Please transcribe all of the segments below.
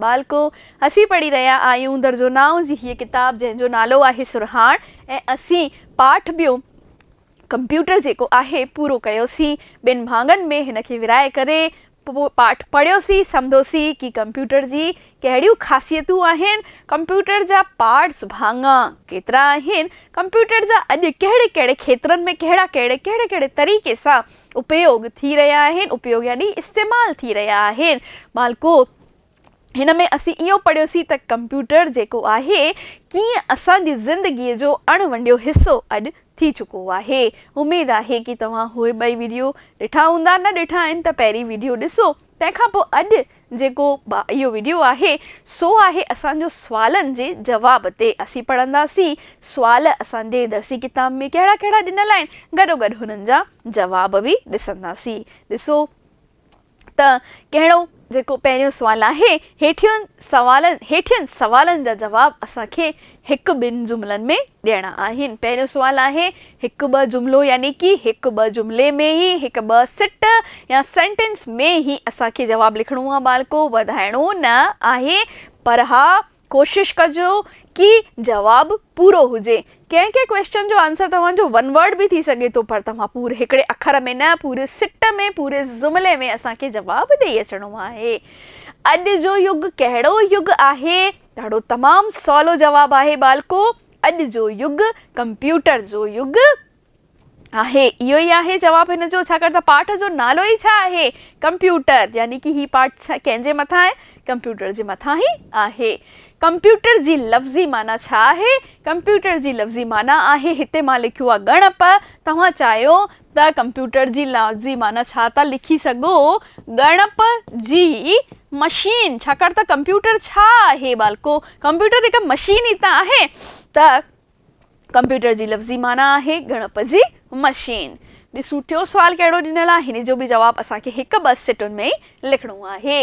ٻالڪو، اسين پڙهي رهيا آهيون درجو نائون جي هيء ڪتاب، جنهن جو نالو آهي سرهاڻ ۽ اسين پاٺ ٻيو ڪمپيوٽر جيڪو آهي، پورو ڪيوسين. ٻن ڀاڱن ۾ هن کي ورهائي ڪري پاٺ پڙهيوسين، سمڌوسين ڪي ڪمپيوٽر جي ڪهڙيون خاصيتون آهن، ڪمپيوٽر جا پارٽس، ڀاڱا، ڪيترا آهن، ڪمپيوٽر جا اڄ ڪهڙي ڪهڙي کيترن ۾ ڪهڙا ڪهڙي ڪهڙي ڪهڙي طريقي سان اپيوڳ ٿي رهيا آهن، اپيوڳ يعني استعمال ٿي رهيا آهن. ٻالڪو! هن ۾ اسين اهو پڙهيوسين ته ڪمپيوٽر جيڪو آهي ڪيئن اسان جي زندگي جو اڻ ونڊيو حصو اڄ ٿي چڪو آهي. اميد آهي ڪي توهان اهي ٻئي ويڊيو ڏٺا هوندا نه ڏٺا آهن ته پهرين ويڊيو ڏسو تنهن کان پوء اڄ جيڪو اهو ويڊيو آهي سو آهي اسان جو سوالن جي جواب تي اسين پڙهنداسين سوال اسان جي درسي ڪتاب ۾ ڪهڙا ڪهڙا ڏنل آهن گڏوگڏ هنن جا جواب به ڏسنداسين ڏسو ته ڪهڙو؟ جيڪو پهريون سوال آهي، هيٺين سوالن هيٺين سوالن جا جواب اسان کي هڪ ٻن جملن ۾ ڏيڻا آهن. پهريون سوال آهي، هڪ ٻه جملو يعني ڪي هڪ ٻه جملي ۾ هي هڪ ٻه سٽ يا سينٽينس ۾ هي اسان کي جواب لکڻو آهي ٻالڪو وڌائڻو نه آهي پر ها ڪوشش ڪجو ڪي جواب پورو هجي. ڪنهن ڪنهن ڪويشچن جو آنسر توهان جو ون ورڊ به ٿي سگهي ٿو پر توهان پوري هڪڙي اکر ۾ نه پوري سٽ ۾ پوري جملي ۾ اسان کي جواب ڏئي اچڻو آهي. اڄ جو يگ ڪهڙو يگ آهي؟ تهڙو تمام سولو جواب آهي ٻالڪو اڄ جو يگ ڪمپيوٽر جو يگ آهي. اهو ئي آهي جواب هن جو، ڇاڪاڻ ته پاٺ جو نالو ئي ڇا آهي؟ ڪمپيوٽر. يعني ڪي هي پاٺ ڪنهن جي مٿان آهي؟ ڪمپيوٽر جي مٿان ئي آهي. ڪمپيوٽر جي لفظي معنيٰ ڇا آهي؟ ڪمپيوٽر جي لفظي معنيٰ آهي، هتي مان لکيو آهي ڳڻپ. توهان چاهيو ته ڪمپيوٽر جي لفظي معنيٰ ڇا ٿا لکي سگهو؟ ڳڻپ جي مشين. ڇاڪاڻ ته ڪمپيوٽر ڇا آهي ٻالڪو؟ ڪمپيوٽر هڪ مشين ئي ته آهي ته. ڪمپيوٽر جي لفظي معنيٰ آهي ڳڻپ جي مشين. ڏسون ٽيون سوال ڪهڙو ڏنل آهي. هن جو به جواب اسان کي هڪ ٻه سٽن ۾ ئي لکڻو آهي.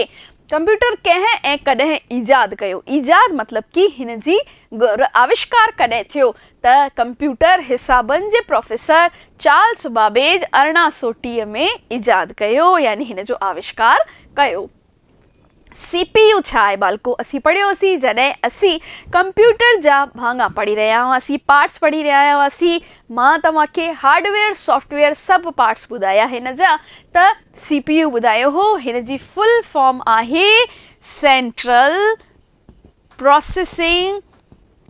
ڪمپيوٽر ڪنهن ۽ ڪڏهن ايجاد ڪيو؟ ايجاد مطلب ڪي هن جي ڳر، آوشڪار، ڪڏهن ٿيو ته ڪمپيوٽر حسابن جي پروفيسر چارلس بابيج ارڙهن سؤ ٽيهه ۾ ايجاد ڪيو يعني هن جو آوشڪار ڪيو. سي پي يو ڇا آهي ٻالڪو اسين پڙهيو هوسين جڏهن اسين ڪمپيوٽر جا ڀاڱا پڙهي رهيا هئاسين پارٽس پڙهي رهيا هئاسين مان توهان کي هارڊويئر سافٽويئر سڀ پارٽس ٻڌايا هن جا ته سي پي يو ٻڌايو هو هن جي فل فارم آهي سينٽرل پراسيسنگ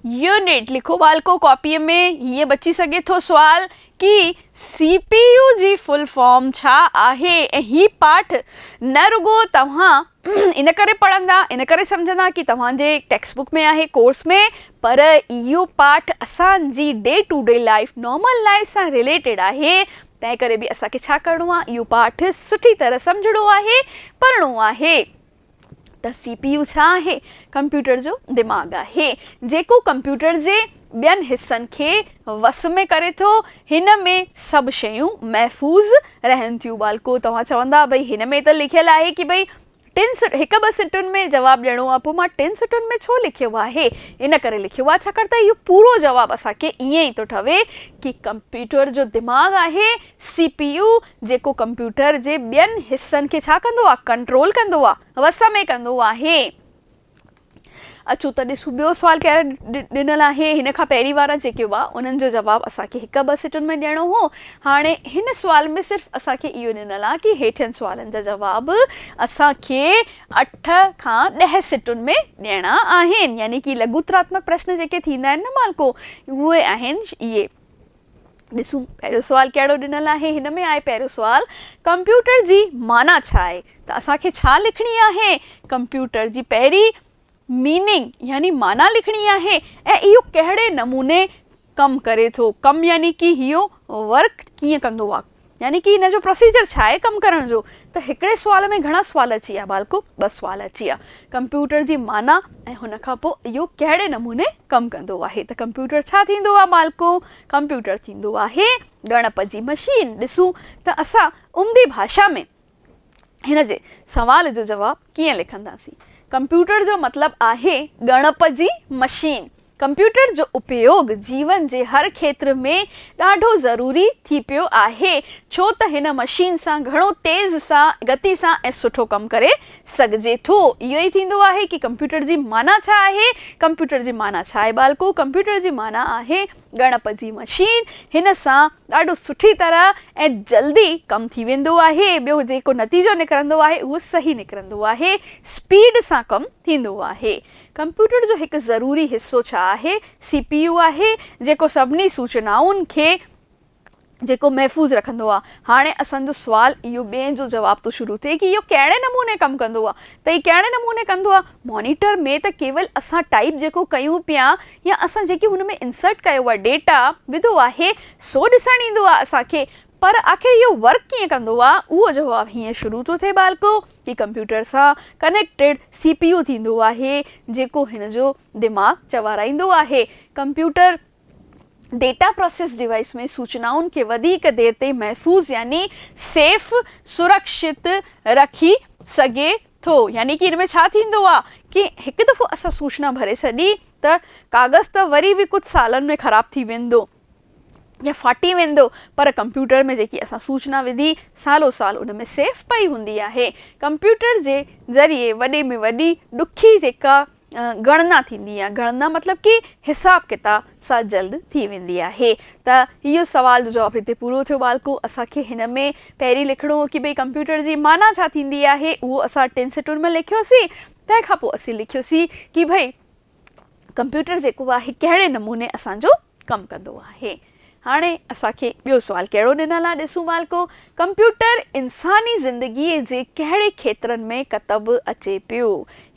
يونٽ لکو والڪو ڪاپيء ۾ هيء بچي سگهي ٿو سوال ڪي سي پي يو جي فل فارم ڇا آهي ۽ هي پاٺ نه رڳو توهان ان ڪري پڙهندا ان ڪري سمجهندا ڪي توهان جي ٽيڪسٽ بڪ ۾ آهي ڪورس ۾ پر اهو پاٺ اسان جي day to day life normal life سان رليٽيڊ آهي تنهن ڪري به اسان کي ڇا ڪرڻو آهي اهو پاٺ سٺي طرح سمجهڻو آهي پڙهڻو آهي. ته سي پي يو ڇا آهي؟ ڪمپيوٽر جو دماغ آهي، جيڪو ڪمپيوٽر جي ٻين حصن کي وس ۾ ڪري ٿو. هن ۾ سڀ شيون محفوظ رهن ٿيون. ٻالڪو، توهان چوندا ڀئي هن ۾ ته لکيل آهي ڪي ڀئي ٽن هڪ ٻه سٽن ۾ جواب ڏيڻو آهي، پوء مان ٽن سٽن ۾ ڇو لکيو آهي؟ ان ڪري لکيو آهي ڇاڪاڻ ته اهو پورو جواب اسان کي ائين ئي ٿو ٺهي ڪي ڪمپيوٽر جو دماغ آهي سي پي يو جيڪو ڪمپيوٽر جي ٻين حصن کي ڇا ڪندو آ ڪنٽرول ڪندو آ وس ۾ ڪندو آهي. اچو ته ڏسون ٻيو سوال ڪهڙ ڏنل آهي هن کان پهرين وارا جيڪي هئا انهن جو جواب اسان کي هڪ ٻه سٽن ۾ ڏيڻو هو هاڻي هن سوال ۾ صرف اسان کي اهو ڏنل آ ڪي هيٺين سوالن جا جواب اسان کي اٺ کان ڏهه سٽن ۾ ڏيڻا آهن يعني ڪي لگوتراتمڪ پرشن جيڪي ٿيندا آهن نه مالڪو اهي آهن اهي. ڏسون پهريون سوال ڪهڙو ڏنل آهي هن ۾ آهي پهريون سوال ڪمپيوٽر جي معنيٰ ڇا آهي ته اسان کي ڇا لکڻي آهي ڪمپيوٽر جي پهرين ميننگ يعني معنيٰ لکڻي آهي ۽ اهو ڪهڙي نموني ڪم ڪري ٿو ڪم يعني ڪي هيو ورڪ ڪيئن ڪندو آهي يعني ڪي ان جو پروسيجر ڇا آهي ڪم ڪرڻ جو ته هڪڙي سوال ۾ گهڻا سوال اچي ويا ڀالڪو ٻه سوال اچي ويا ڪمپيوٽر جي معنيٰ ۽ هن کان پوء اهو ڪهڙي نموني ڪم ڪندو آهي ته ڪمپيوٽر ڇا ٿيندو آهي ڀالڪو ڪمپيوٽر ٿيندو آهي ڳڻپ جي مشين ڏسون ته اسان عمدي ڀاشا ۾ هن جي سوال جو جواب ڪيئن لکنداسين؟ ڪمپيوٽر جو مطلب آهي ڳڻپ جي مشين. ڪمپيوٽر جو اپيوڳ جيون جي هر کيتر ۾ ڏاڍو ضروري ٿي پيو آهي ڇو ته هن مشين سان گهڻو تيز سان گتي سان ۽ سٺو ڪم ڪري سگهجي ٿو. اهو ئي ٿيندو آهي ڪي ڪمپيوٽر جي معنيٰ ڇا آهي؟ ڪمپيوٽر جي معنيٰ ڇا آهي ٻالڪو؟ ڪمپيوٽر جي معنيٰ آهي. ڳڻپ جي مشين هن سان ڏاڍو سٺي طرح ۽ جلدي ڪم ٿي ويندو آهي ٻيو جيڪو نتيجو نڪرندو آهي اهو صحيح نڪرندو آهي اسپيڊ سان ڪم ٿيندو آهي ڪمپيوٽر جو هڪ ضروري حصو ڇا آهي سي پي يو آهي جيڪو سڀني سوچنائن کي جيڪو محفوظ رکندو آ. هاڻي اسان جو سوال اهو ٻين جو جواب ٿو شروع ٿئي ڪي اهو ڪهڙي نموني ڪم ڪندو آ ته هي ڪهڙي نموني ڪندو آ مانيٽر ۾ ته ڪيول اسان ٽائيپ جيڪو ڪيون پيا يا اسان جيڪي هن ۾ انسرٽ ڪيو آ ڊيٽا وڌو آهي سو ڏسڻ ايندو آ اسان کي پر آخر اهو ورڪ ڪيئن ڪندو آ اهو جواب هيئن شروع ٿو ٿئي ٻالڪو ڪي ڪمپيوٽر سان ڪنيڪٽيڊ سي پي يو ٿيندو آهي جيڪو هن جو دماغ چوارائيندو آهي ڪمپيوٽر ڊيٽا پراسيس ڊوائيس ۾ سوچنائن کي وڌيڪ دير تائين محفوظ يعني سيف، سرڪشت، رکي سگهي ٿو. يعني ان ۾ ڇا ٿيندو آهي ڪي هڪ دفعو اسان سوچنا ڀري ڇڏي ته ڪاغذ ته وري به ڪجهه سالن ۾ خراب ٿي ويندو يا ڦاٽي ويندو پر ڪمپيوٽر ۾ جيڪي اسان سوچنا وڌي سالو سال ان ۾ سيف پئي هوندي آهي. ڪمپيوٽر جي ذريعي وڏي ۾ وڏي ڏکي جيڪا ڳڻنا ٿيندي يا ڳڻنا مطلب ڪي حساب ڪتاب سا جلد ٿي ويندي آهي ته اهو سوال جو جواب هتي پورو ٿيو ٻالڪو اسان کي هن ۾ پهرين لکڻو هو ڪي ڀئي ڪمپيوٽر جي معنيٰ ڇا ٿيندي آهي اهو اسان ٽن سٽن ۾ لکيوسين تنهن کان پوء اسين لکيوسين ڪي ڀئي ڪمپيوٽر جيڪو آهي ڪهڙي نموني اسان جو ڪم ڪندو آهي هاڻي اسان کي ٻيو سوال ڪهڙو ڏنل آ ڏسون مالڪو ڪمپيوٽر انساني زندگي جي ڪهڙي کيترن ۾ ڪتب اچي پيو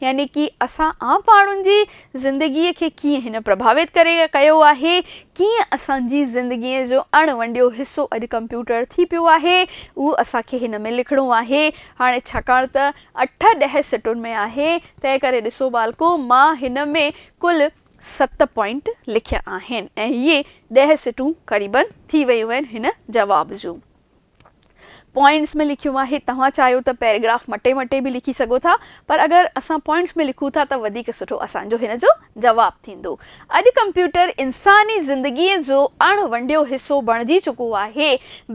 يعني ڪي اسان عام ماڻهن جي زندگي کي ڪيئن هن پرڀاوت ڪري ڪيو آهي ڪيئن اسان جي زندگي جو اڻ ونڊيو حصو اڄ ڪمپيوٽر ٿي پيو آهي اهو اسان کي هن ۾ لکڻو آهي هاڻي ڇاڪاڻ ته اٺ ڏهه سٽن ۾ آهي تنهن ڪري ڏسو مالڪو مان هن ۾ ڪل ست پوائنٽ لکيا آهن ۽ اهي ڏهه سٽون قريبن ٿي ويون آهن هن جواب جون پوائنٽس ۾ لکيون آهي توهان چاهيو ته پيريگراف مٽي مٽي به لکي سگهو ٿا پر اگر اسان پوائنٽس ۾ لکون ٿا ته وڌيڪ سٺو اسان جو هن جو جواب ٿيندو اڄ ڪمپيوٽر انساني زندگي جو اڻ ونڊيو حصو بڻجي چڪو آهي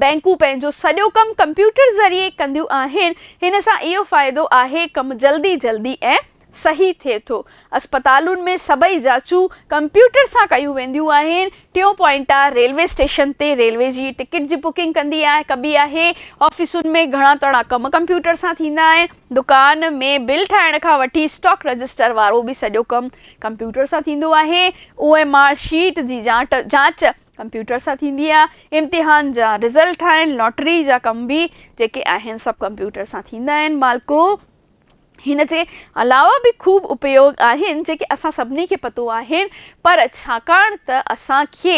بينڪون پنهنجو سڄو ڪم ڪمپيوٽر ذريعي ڪنديون آهن هن سان اهو فائدو آهي ڪم جلدي جلدي ۽ صحيح ٿئي ٿو. اسپتالن ۾ سڀئي جاچون ڪمپيوٽر سان ڪيون وينديون آهن. ٽيون پوائنٽ آ ريلوي اسٽيشن تي ريلوي جي ٽڪيٽ جي بڪنگ ڪندي آهي ڪبي آهي. آفيسن ۾ گهڻا تڻا ڪم ڪمپيوٽر سان ٿيندا آهن. دڪان ۾ بل ٺاهڻ کان وٺي اسٽاڪ رجسٽر وارو به سڄو ڪم ڪمپيوٽر سان ٿيندو آهي. او ايم آر شيٽ جي جاچ ڪمپيوٽر سان ٿيندي آ. امتحان جا رزلٽ ٺاهڻ، لاٽري جا ڪم به جيڪي آهن سڀ ڪمپيوٽر سان ٿيندا آهن مالڪو. هن جي علاوه به خوب اپيوگ آهن جيڪي اسان سڀني کي پتو آهن پر ڇاڪاڻ ته اسان کي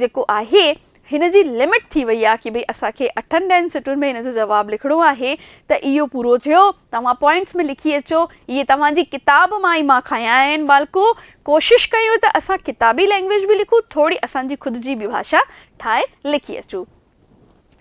جيڪو آهي هن جي لمٽ ٿي وئي آهي ڪي ڀئي اسان کي اٺن ڏهن سٽن ۾ هن جو جواب لکڻو آهي ته اهو پورو ٿيو توهان پوائنٽس ۾ لکي اچو اهي توهان جي ڪتاب مان ئي مان کنيا آهن ٻالڪو ڪوشش ڪيو ته اسان ڪتابي لينگويج به لکون ٿوري اسان جي خود جي به ڀاشا ٺاهي لکي اچون.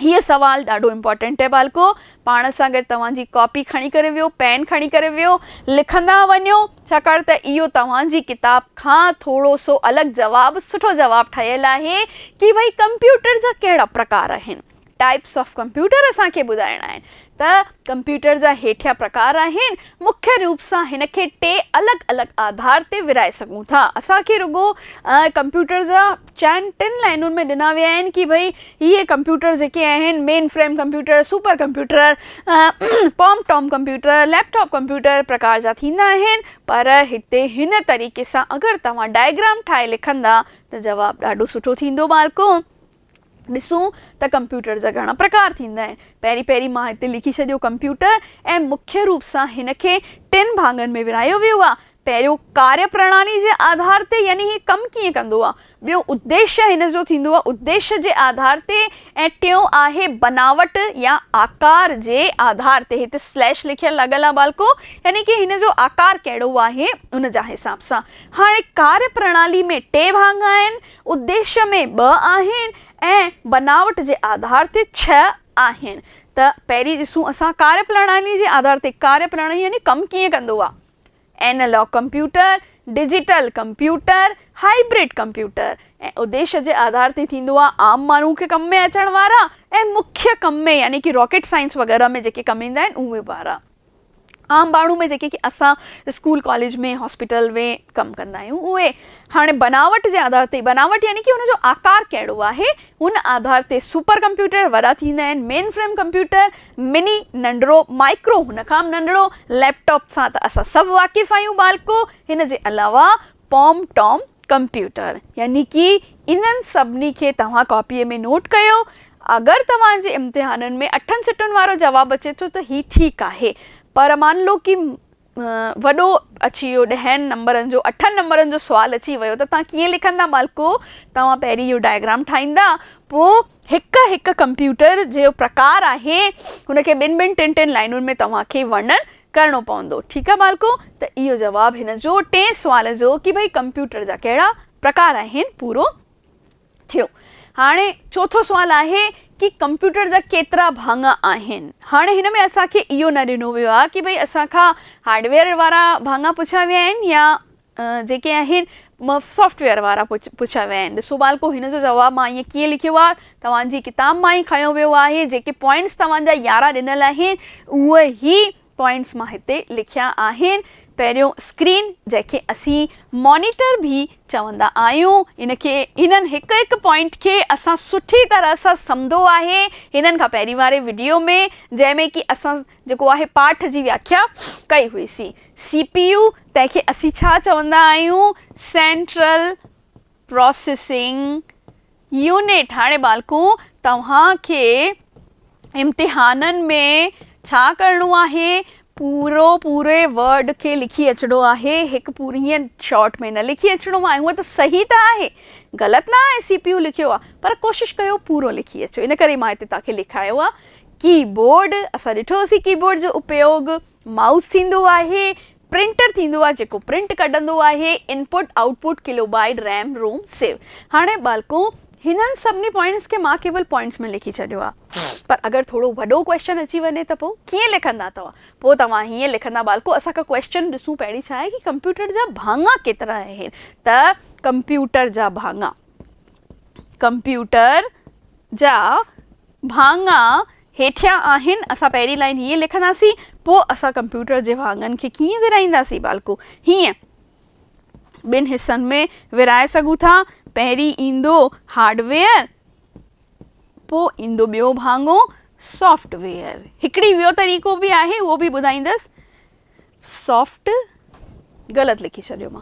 هي سوال ڏاڍو امپورٽنٽ آهي ٻالڪو پاڻ سان گڏ توهان جي ڪاپي کڻي ڪري ويو پين کڻي ڪري ويو لکندا وڃو ڇاڪاڻ ته اهو توهان جي ڪتاب کان ٿورو سو الڳ جواب سٺو جواب ٺهيل آهي ڪي ڀئي ڪمپيوٽر جا ڪهڙا پرڪار آهن ٽائپس آف ڪمپيوٽر اسان کي ٻڌائڻا آهن ته ڪمپيوٽر جا هيٺيان پرڪار آهن مکيه روپ سان هن کي ٽي الڳ الڳ آڌار تي ورهائي سگهون ٿا اسان کي رڳو ڪمپيوٽر جا چئن ٽن لائنن ۾ ڏنا ويا آهن ڪي ڀئي هي ڪمپيوٽر جيڪي آهن mainframe computer, super computer, palmtop computer, laptop computer پرڪار جا ٿيندا آهن پر هتي هن طريقي سان اگر توهان ڊائگرام ٺاهي لکندا ته جواب ڏاڍو سٺو ٿيندو ٻالڪو ڏسون ته ڪمپيوٽر جا گهڻا پرڪار ٿيندا آهن پهرين پهرين مان هتي لکي ڇڏيو ڪمپيوٽر ۽ مکيه روپ سان هن کي ٽن ڀاڱن ۾ ورهايو ويو آهي پهريون ڪاريه پرڻالي جي آڌار تي يعني هي ڪم ڪيئن ڪندو آ، ٻيو اديشه هن جو ٿيندو آ اديشه جي آڌار تي ۽ ٽيون آهي بناوٽ يا آڪار جي آڌار تي هتي سليش لکيل لڳل آ ٻالڪو يعني ڪي هن جو آڪار ڪهڙو آهي ان جا حساب سان هاڻي ڪاريه پرڻالي ۾ ٽي ڀاڱا آهن اديشه ۾ ٻه آهن ۽ بناوٽ جي آڌار تي ڇهه آهن ته پهرين ڏسون اسان ڪاريه پرڻالي جي آڌار تي ڪاريه پرڻالي يعني ڪم ڪيئن ڪندو آ. Analog computer, digital computer, hybrid computer ۽ اديش جي آڌار تي ٿيندو آهي. عام ماڻهو کي ڪم ۾ اچڻ وارا ۽ مکيه ڪم ۾ يعني ڪي راڪيٽ سائنس وغيره ۾ جيڪي ڪم ايندا آهن اهي وارا عام ماڻهو ۾ جيڪي ڪي اسان اسڪول ڪاليج ۾ هاسپيٽل ۾ ڪم ڪندا آهيون اهي هاڻي بناوٽ جي آڌار تي بناوٽ يعني ڪي ان جو آڪار ڪهڙو آهي ان آڌار تي سپر ڪمپيوٽر وڏا ٿيندا آهن مين فريم ڪمپيوٽر مني، ننڍڙو، مائڪرو، هن کان به ننڍڙو، ليپ ٽاپ سان ته اسان سڀ واقف آهيون ٻالڪو، هن جي علاوه پوم ٽوم ڪمپيوٽر يعني ڪي انهن سڀني کي توهان ڪاپيء ۾ نوٽ ڪيو، اگر توهان جي امتحانن ۾ اٺن سٽن وارو جواب اچي ٿو ته هي ٺيڪ آهي، پر مان لو ڪي وڏو اچي ويو ڏهن نمبرن جو اٺن نمبرن جو سوال اچي ويو ته توهان ڪيئن لکندا ٻالڪو توهان پهرين اهو ڊائگرام ٺاهيندا پوء هڪ هڪ ڪمپيوٽر جو پرڪار آهي ان کي ٻن ٻن ٽن ٽن لائنن ۾ توهان کي ورنن ڪرڻو پوندو ٺيڪ آهي ٻالڪو ته اهو جواب هن جو ٽئين سوال جو ڪي ڀئي ڪمپيوٽر جا ڪهڙا پرڪار آهن پورو ٿيو هاڻي چوٿون سوال آهي ڪي ڪمپيوٽر جا ڪيترا ڀاڱا آهن هاڻي هن ۾ اسان کي اهو نه ڏنو ويو آهي ڪي ڀئي اسان کان هارڊويئر وارا ڀاڱا پڇيا ويا آهن يا جيڪي آهن سافٽويئر وارا پڇيا ويا آهن ڏسو ٻالڪو هن جو جواب مان ائين ڪيئن لکيو آهي توهان جي ڪتاب مان ئي کنيو ويو آهي جيڪي پوائنٽس توهان جا يارهن ڏنل آهن اهي هي پوائنٽس مان هتي لکيا آهن. پهريون اسڪرين جنهن کي اسين مانيٽر به چوندا آهيون ان کي هنن هڪ هڪ پوائنٽ کي اسان سٺي طرح سان سمدو آهي هنن کان پهرين واري وڊيو ۾ جنهن ۾ ڪي اسان جيڪو آهي پاٺ جي وياکيا ڪئي هئي سي سي پي يو تنهن کي اسين ڇا چوندا آهيون سينٽرل پراسيسنگ يونٽ هاڻي ٻالڪون توهان کي امتحانن ۾ ڇا ڪرڻو آهي پورو پوري ورڊ کي لکي اچڻو آهي هڪ پوري ائين شارٽ ۾ نه لکي اچڻو آهي هونء ته صحيح ته آهي غلط نه آهي سي پي يو لکيو آهي پر ڪوشش ڪيو پورو لکي اچو ان ڪري مان هتي توهان کي لکايو آهي ڪي بورڊ اسان ڏٺوسي ڪي بورڊ جو اپيوگ مائوس ٿيندو آهي پرنٽر ٿيندو آهي جيڪو پرنٽ ڪڍندو آهي، input, output, kilobyte, RAM, ROM, save. هاڻي ٻالڪو هنن سڀني پوائنٽس کي مان ڪيول پوائنٽس ۾ لکي ڇڏيو آهي پر اگر ٿورو وڏو ڪويسچن اچي وڃي ته پوء ڪيئن لکندا توهان؟ پوء توهان هيئن لکندا ٻالڪو اسان کي ڪويسچن ڏسون پهرين ڇا آهي ڪي ڪمپيوٽر جا ڀاڱا ڪيترا آهن ته ڪمپيوٽر جا ڀاڱا ڪمپيوٽر جا ڀاڱا هيٺيان آهن، اسان پهرين لائين هيئن لکنداسين، پوء اسان ڪمپيوٽر جي واڳن کي ڪيئن ورهائينداسين؟ ٻالڪو، هيئن، ٻن حصن ۾ ورهائي سگهون ٿا، پهرين ايندو هارڊ ويئر، پوء ايندو ٻيو ڀاڱو سافٽ ويئر. هڪڙي ويو طريقو به آهي، اهو به ٻڌائيندس. سافٽ غلط لکي ڇڏيو مان.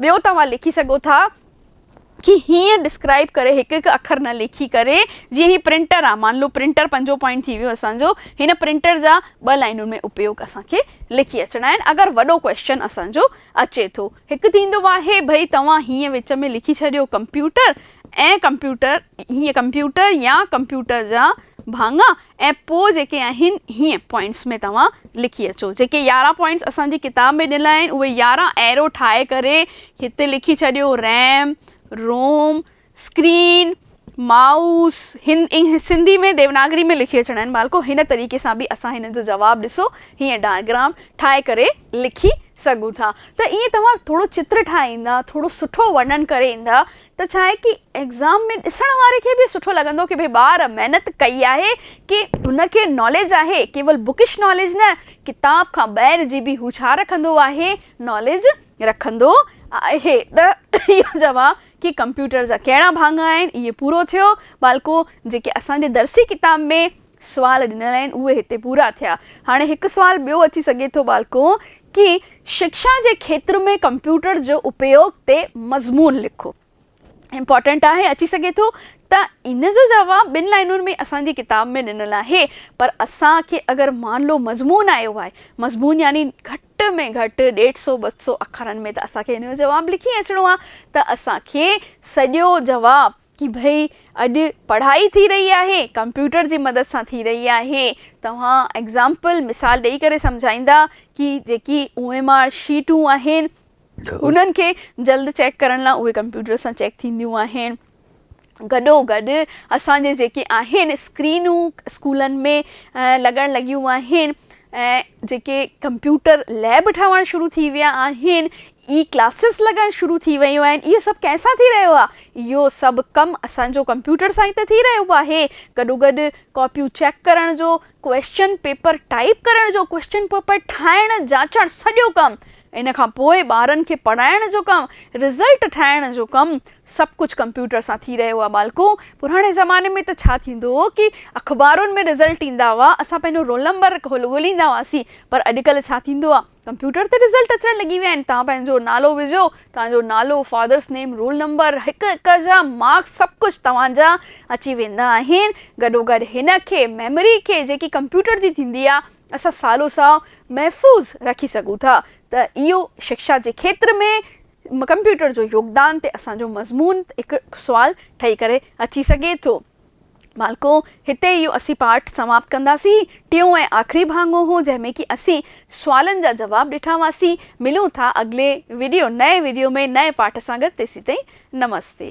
ٻيو توهان لکي سگهو ٿا ڪي هيئن ڊسڪرائب ڪري هڪ هڪ اکر نه لکي ڪري جيئن هي پرنٽر آ مان لو پرنٽر پنجون پوائنٽ ٿي ويو اسان جو هن پرنٽر جا ٻه لائنون ۾ اپيوگ اسان کي لکي اچڻا آهن اگر وڏو ڪويسچن اسان جو اچي ٿو هڪ ٿيندو آهي ڀئي توهان هيئن وچ ۾ لکي ڇڏيو ڪمپيوٽر ۽ ڪمپيوٽر هيئن ڪمپيوٽر يا ڪمپيوٽر جا ڀاڱا ۽ پوء جيڪي آهن هيئن پوائنٽس ۾ توهان لکي اچو جيڪي يارهن پوائنٽس اسان جي ڪتاب ۾ ڏنل آهن اهي يارهن ايرو ٺاهي ڪري هتي لکي ڇڏيو ريم روم اسڪرين مائوس هن سنڌي ۾ ديوناگري ۾ لکي اچڻا آهن ٻالڪو هن طريقي سان به اسان هنن جو جواب ڏسو هيئن ڊائگرام ٺاهي ڪري لکي سگهون ٿا ته ايئن توهان ٿورو چتر ٺاهيندا ٿورو سٺو ورنن ڪري ايندا ته ڇا آهي ڪي ايگزام ۾ ڏسڻ واري کي به سٺو لڳندو ڪي ڀئي ٻار محنت ڪئي آهي ڪي هن کي ناليج آهي ڪيول بڪش ناليج نه ڪتاب کان ٻاهر جي به هو ڇا رکندو آهي ناليج رکندو آهي ته اهو جواب ڪي ڪمپيوٽر جا ڪهڙا ڀاڱا آهن اهي پورو ٿيو ٻالڪو جيڪي اسان جي درسي ڪتاب ۾ سوال ڏنل آهن اهي هتي پورا ٿيا. هاڻي هڪ سوال ٻيو اچي سگهي ٿو ٻالڪو ڪي شڪشا جي کيتر ۾ ڪمپيوٽر جو اپيوگ تي مضمون لکو. امپارٽنٽ آهي اچي سگهي ٿو ته ان جو جواب ٻن لائنن ۾ اسان جي ڪتاب ۾ ڏنل آهي پر اسان کي اگر مان لو مضمون آيو آهي مضمون يعني گهٽ ۾ گهٽ ڏيڍ سو ٻه سو اکرن ۾ ته اسان کي ان جو جواب لکي اچڻو آهي ته اسان کي سڄو جواب ڪي ڀئي اڄ پڙهائي ٿي رهي آهي ڪمپيوٽر جي مدد سان ٿي رهي آهي توهان ايگزامپل مثال ڏئي ڪري سمجهائيندا ڪي جيڪي او ايم آر شيٽون آهن انهن کي جلد چيڪ ڪرڻ لاء اهي ڪمپيوٽر سان چيڪ ٿينديون آهن گڏو گڏ اسان جي جيڪي آهن اسڪرينون اسڪولن ۾ لڳڻ لڳيون آهن ۽ جيڪي ڪمپيوٽر ليب ٺهڻ شروع ٿي ويا آهن اي ڪلاسز لڳڻ شروع ٿي ويون آهن اهو سڀ ڪنهن سان ٿي رهيو آهي اهو سڀ ڪم اسان جو ڪمپيوٽر سان ئي ته ٿي رهيو آهي گڏوگڏ ڪاپيون چيڪ ڪرڻ جو ڪويسچن پيپر ٽائيپ ڪرڻ جو ڪويسچن پيپر ٺاهڻ جاچڻ سڄو ڪم ان کان پوء ٻارن کي پڙهائڻ جو ڪم رزلٽ ٺاهڻ جو ڪم سڀ ڪجهه ڪمپيوٽر سان ٿي رهيو آهي ٻالڪو پراڻي زماني ۾ ته ڇا ٿيندو هو ڪي اخبارن ۾ رزلٽ ايندا هئا اسان پنهنجو رول نمبر ڳوليندا هئاسين پر اڄڪلهه ڇا ٿيندو آهي ڪمپيوٽر تي رزلٽ اچڻ لڳي ويا آهن توهان پنهنجو نالو وجهو توهان جو نالو فادرس نيم رول نمبر هڪ هڪ جا مارڪس سڀ ڪجهه توهان جا اچي ويندا آهن گڏو گڏ هن کي ميموري کي جيڪي ڪمپيوٽر جي ٿيندي آهي اسان سالو سال محفوظ رکي سگهون ٿا ته اهو شڪشا جي کيتر ۾ ڪمپيوٽر جو يوگدان تي اسان جو مضمون هڪ سوال ٺهي ڪري اچي سگهي ٿو. ٻالڪو! هتي اهو اسين پارٽ سماپت ڪنداسين. ٽيون ۽ آخري ڀاڱو هو جنهن ۾ ڪي اسين سوالن جا جواب ڏٺا هئاسين. ملون ٿا اڳلي وڊيو نئين وڊيو ۾ نئين پارٽ سان گڏ تيسين تائين نمستي.